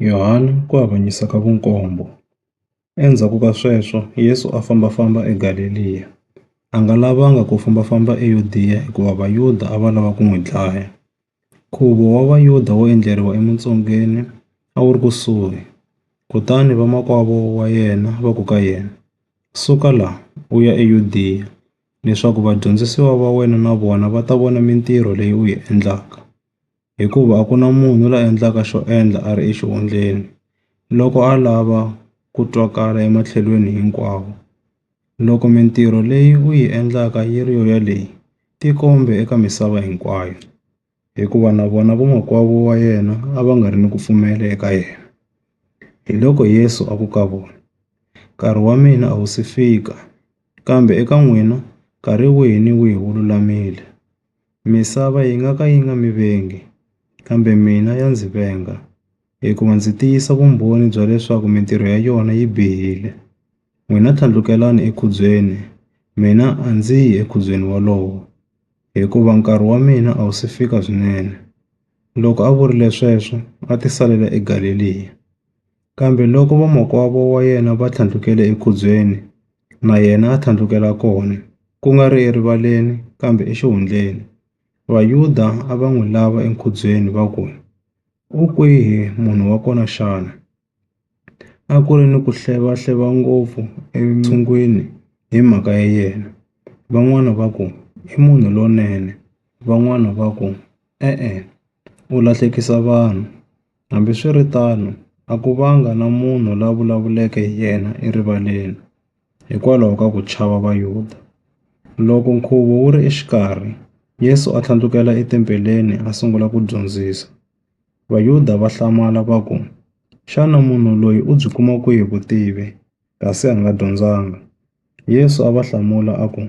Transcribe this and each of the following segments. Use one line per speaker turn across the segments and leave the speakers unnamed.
Yohana ku avanyisa ka vunkombo. Endzhaku ka sweswo Yesu a fambafamba eGaleliya, a nga lavanga ku fambafamba eYudiya hikuva Vayuda a va lava ku n'wi dlaya. Nkhuvo wa Vayuda wo endleriwa emintsongeni a wu ri kusuhi, kutani vamakwavo wa yena va ku ka yena, Suka la u ya eYudiya leswaku vadyondzisiwa va wena na vona va ta vona mintirho leyi u yi endlaka. hikuva a ku na munhu la endlaka xo endla a ri exihundleni loko a lava ku twakala ematlhelweni hinkwawo. Loko mintirho leyi u yi endlaka yi ri yo yaleyo, tikombe eka misava hinkwayo, hikuva na vona vamakwavo wa yena a va nga ri ni ku pfumela eka yena. Hiloko Yesu a ku ka vona, Nkarhi wa mina a wu si fika, kambe eka n'wina nkarhi wihi ni wihi wu lulamile. Misava yi nga ka yi nga mi vengi, kambe mina ya ndzi venga, hikuva ndzi tiyisa vumbhoni bya leswaku mintirho ya yona yi bihile. N'wina tlhandlukelani ekhubyeni, mina a ndzi yi ekhubyeni wolowo, hikuva nkarhi wa mina a wu si fika swinene. Loko a vurile sweswo, a tisalela eGaleliya. Kambe loko vamakwavo wa yena va tlhandlukele ekhubyeni, na yena a tlhandlukela kona, ku nga ri erivaleni kambe exihundleni. Vayuda a va n'wi lava enkhubyeni va ku, U kwihi munhu wa kona xana? A ku ri ni ku hleva-hleva ngopfu entshungwini hi mhaka ya yena. Van'wana va ku, I munhu lonene, van'wana va ku, E-e, u lahlekisa vanhu. Hambi swi ri tano, a ku vanga na munhu la vulavuleke hi yena erivaleni hikwalaho ka ku chava Vayuda. Loko nkhuvo wu ri exikarhi, Yesu a tlhandlukela etempeleni a sungula ku dyondzisa. Vayuda va hlamala va ku, Xana munhu loyi u byi kuma kwihi vutivi, kasi a nga dyondzanga? Yesu a va hlamula a ku,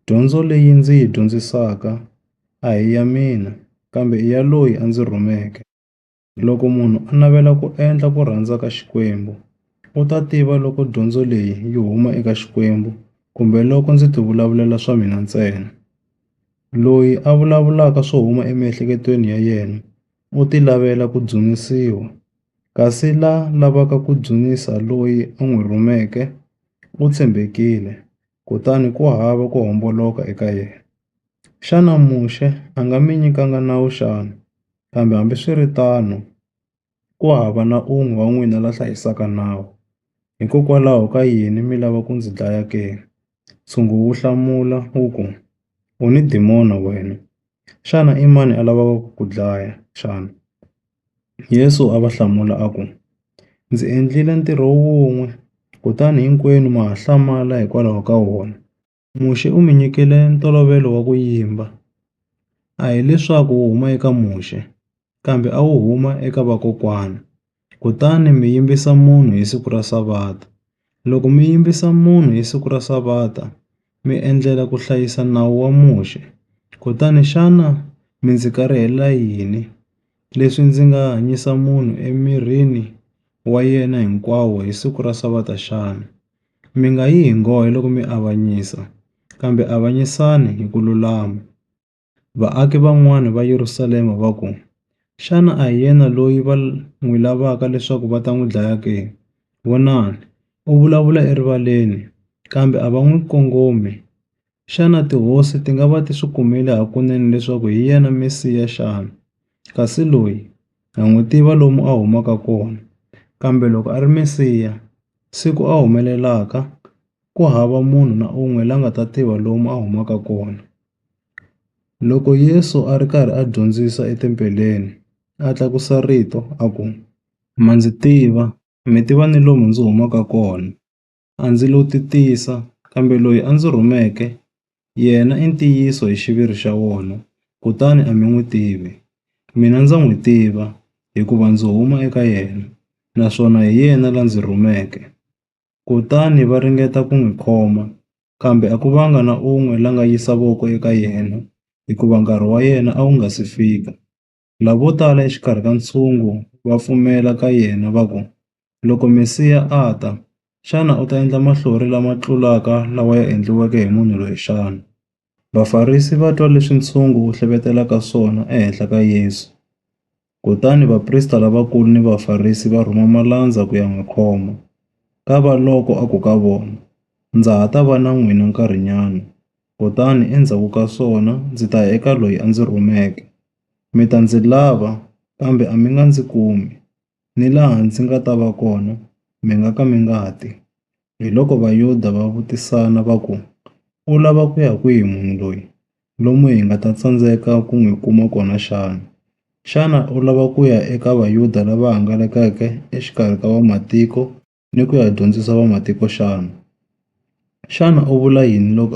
Dyondzo leyi ndzi yi dyondzisaka a hi ya mina, kambe i ya loyi a ndzi rhumeke. Loko munhu a navela ku endla ku rhandza ka Xikwembu, u ta tiva loko dyondzo leyi yi huma eka Xikwembu kumbe loko ndzi ti vulavulela swa mina ntsena. Loyi a vulavulaka swo huma emiehleketweni ya yena u ti lavela ku dzunisiwa, kasi la lavaka ku dzunisa loyi a n'wi rhumeke u tshembekile. kutani ku hava ku homboloka eka yena. Xana Muxe a nga mi nyikanga nawu xana? Kambe hambiswiritano, ku hava na un'we wa n'wina la hlayisaka nawu. Hikokwalaho ka yini mi lava ku ndzi dlaya ke? Ntshungu wu hlamula wu ku, U ni dimoni wena! Xana i mani a lavaka ku ku dlaya xana? Yesu a va hlamula a ku, Ndzi endlile ntirho wun'we, kutani hinkwenu ma ha hlamala hikwalaho ka wona. Muxe u mi nyikile ntolovelo wa ku yimba, a hi leswaku wu huma eka Muxe, kambe a wu huma eka vakokwana, kutani mi yimbisa munhu hi siku ra Savata. Loko mi yimbisa munhu hi siku ra Savata, mi endlela ku hlayisa nawu wa Muxe. Kutani xana mi ndzi karihela yini, leswi ndzi nga hanyisa munhu emirini wa yena hinkwawo hi siku ra Savata xana? Mi nga yi hi nghohe loko mi avanyisa, kambe avanyisani hi ku lulama. Vaaki van'wana va Yerusalema va ku, Xana a hi yena loyi va n'wi lavaka leswaku va ta n'wi dlaya ke? Vonani! U vulavula erivaleni, kambe a va n'wi kongomi. Xana tihosi ti nga va ti swi kumile hakunene leswaku hi yena Mesiya xana? Kasi loyi ha n'wi tiva lomu a humaka kona. Kambe loko a ri Mesiya, siku a humelelaka ku hava munhu na un'we la nga ta tiva lomu a humaka kona.” Loko Yesu a ri karhi a dyondzisa etempeleni, a tlakusa rito a ku, Ma ndzi tiva, mi tiva ni lomu ndzi humaka kona. A ndzi lo ti tisa, kambe loyi a ndzi rhumeke yena i ntiyiso hi xiviri xa wona, kutani a mi n'wi tivi. Mina ndza n'wi tiva, hikuva ndzi huma eka yena, naswona hi yena la ndzi rhumeke. kutani va ringeta ku n'wi khoma, kambe a ku vanga na un'we la nga yisa voko eka yena, hikuva nkarhi wa yena a wu nga si fika. Lavo tala exikarhi ka ntshungu va pfumela ka yena va ku, Loko Mesiya a ta, xana u ta endla mahlori lama tlulaka lawa ya endliweke hi munhu loyi xana? Vafarisi va twa leswi ntshungu wu hleketelaka swona ehenhla ka Yesu, kutani vaprista lavakulu ni Vafarisi va rhuma malandza ku ya n'wi khoma. Kavaloko a ku ka vona, Ndza ha ta va na n'wina nkarhinyana, kutani endzhaku ka swona ndzi ta ya eka loyi a ndzi rhumeke. Mi ta ndzi lava, kambe a mi nga ndzi kumi. Ni laha ndzi nga ta va kona, mi nga ka mi nga ti. Hiloko Vayuda va vutisana va ku, U lava ku ya kwihi munhu loyi, lomu hi nga ta tsandzeka ku n'wi kuma kona xana? Xana u lava ku ya eka Vayuda lava hangalakeke exikarhi ka Vamatiko ni ku ya dyondzisa Vamatiko xana? Xana u vula yini loko.